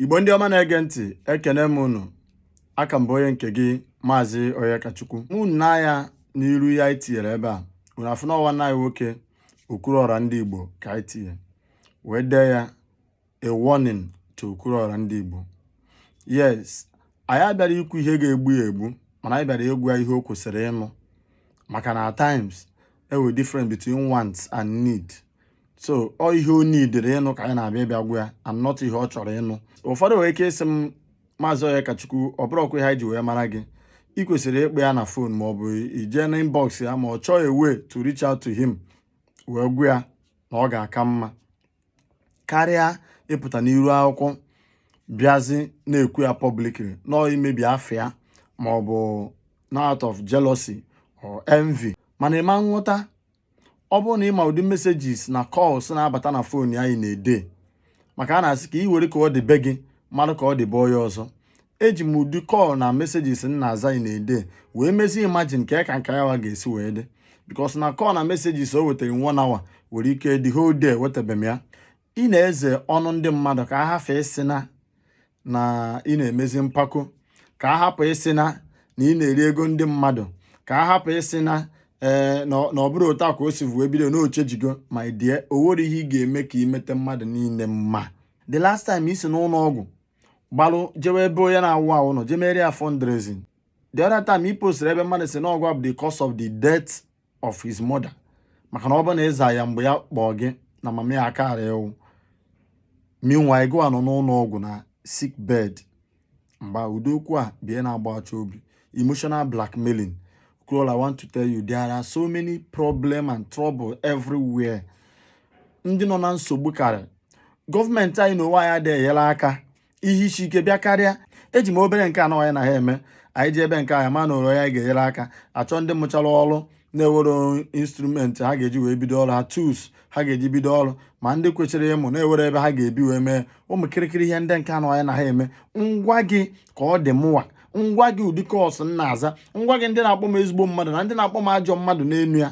Igbo ndị ọma na-ege ntị ekene m unu a ka m bụ onye nke gị maazị Onyekachukwu unu nee anya n'iru ya anyị tinyere ebe a unu afụ na ọ nwanne anyị nwoke Okwuluora ndị Igbo ka anyị tinye wee dee ya a warning to Okwuluora ndị Igbo yes anyị abịara ikwu ihe ga-egbu ya egbu mana anyị bịara ịgwa ya ihe o kwesịrị ịnụ maka na at times enwere difference between want and need so ọ ihe o needere ịnụ ka anyị na-abịa ịbịa gwa ya and not ihe ọ chọrọ ịnụ ụfọdụ nwere ike ịsị m maazị Onyekachukwu ọ bụrọkwa ihe anyị ji wee mara gị ị kwesịrị ịkpọ ya na phone ma ọ bụ i jee na inbox ya ma ọ chọọ a way to reach out to him wee gwa ya na ọ ga-aka mma karịa ịpụta n'iru akwụkwọ bịazi na-ekwu ya publicly na ọ imebi afịa ma ọ bụ na out of jealousy or envy mana ị ma nghọta ọ bụrụ na ị ma ụdị messages na calls na-abata na phone anyị in a day maka a na-asị ka ị were ka ọ dị be gị malụ ka ọ dị be onye ọzọ eji m ụdị call na messages m na-aza in a day wee mezi imagine ka ka nke yawa ga-esi wee dị because na call na messages o wetara na one hour nwere ike the whole day wetabe m ya ị na-eze ọnụ ndị mmadụ ka a hafụ ịsị na na ị na-emezi mpako ka a hapụ ịsị na na ị na-eri ego ndị mmadụ ka a hapụ ịsị na ee eh, na ọ bụrụ otu a ka o si vuo bido n'oche jigo ma die o nwere ihe ị ga-eme ka i meta mmadụ niile mma the last time i si n'ụlọ ọgwụ gbalụ jewe ebe onye na-awụ awụ nọ jee mere ya fundraising the other time i postiri ebe mmadụ sị na ọ gụwa bụ the cause of the death of his mother maka na ọ bụ na ị za ya mgbe ya kpọọ gị na mama ya akara ịwụ meanwhile gụwa nọ n'ụlọ ọgwụ na sick bed mgbe ụdị okwu a bụ ihe na-agbawacha obi emotional blackmailing Okwuluora, I want to tell you there are so many problem and trouble everywhere ndị nọ na nsogbu karị gọọmenti anyị na onwe ya adịghị enyere aka ihe isi ike bịa karịa eji m obere nke anọ anyị na ha eme anyị ji ebe nke anyị ma na oro ya ga-enyere aka achọ ndị mụchara ọrụ na-ewere instrument ha ga-eji wee bido ọrụ ha tools ha ga-eji bido ọrụ ma ndị kwesịrị ịmụ na-ewere ebe ha ga-ebi wee mee ụmụ kịrịkịrị ihe ndị nke anọ anyị na ha eme m gwa gị ka ọ dị mụwa m gwa gị ụdị calls m na-aza m gwa gị ndị na-akpọ m ezigbo mmadụ na ndị na-akpọ m ajọ mmadụ n'elu ya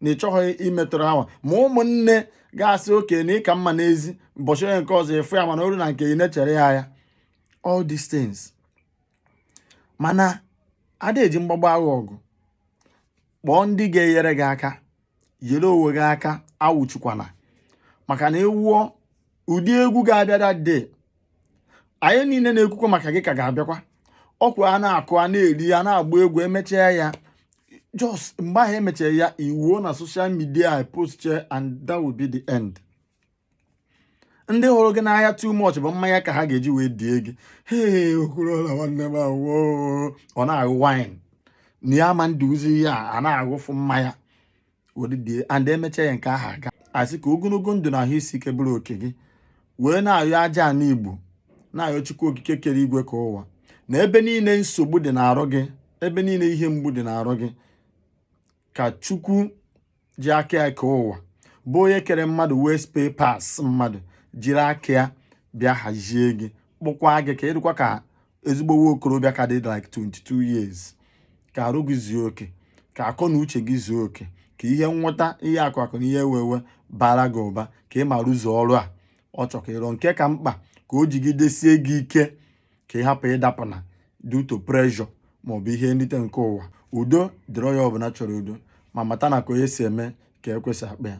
na ịchọghị imetụrụ awa ma ụmụnne ga-asị okay na ị ka mma n'ezi ụbọchị onye nke ọzọ efu ya mana o ruo na nke ị na-echere ya ya all these things mana a da eji mgbagbu agha ọgụ kpọọ ndị ga-enyere gị aka yere onwe gị aka awụchukwana maka na ị wụọ ụdị egwu ga-abịa that day anyị niile na-ekwukwa maka gị ka ga-abịakwa ọkwa a na-akụ a na-eri a na-agba egwu e mechaa ya just mgbe ahụ e mechara ya iwuo na social media post and that will be the end ndị hụrụ gị n'anya too much bụ mmanya ka ha ga-eji wee die gị hee okorola nwanne m awoo ọ na-aṅụ wine na ya ma nduzi ihe a a na-aṅụfụ mmanya were die and emecha ya nke ahụ a ga-asị ka ogologo ndụ na ahụ isi ike bụrụ oke gị wee na-ayọ aja ana igbo na-ayọ chukwu okike kere igwe kee ụwa na ebe niile nsogbu dị n'arụ gị ebe niile ihe mgbu dị n'arụ gị ka chukwu ji aka ya kee ụwa bụ onye kere mmadụ nwee spare parts mmadụ jiri aka ya bịa hazie gị kpụkwa gị ka ị dịkwa ka ezigbo nwa okorobịa ka dị like 22 years ka arụ gị zuo oke ka akọ na uche gị zuo oke ka ihe nweta ihe akụ akụ na ihe enwe enwe bara gị ụba ka ị ma rụzuo ọrụ a ọ chọ ka ị rụ nke ka mkpa ka o jigidesie gị ike ka ị hapụ ịdapụ na due to pressure maọbụ ihe nrite nke ụwa udo dịrị onye ọbụla chọrọ udo ma mata na ka onye si eme ka e kwesị akpa ya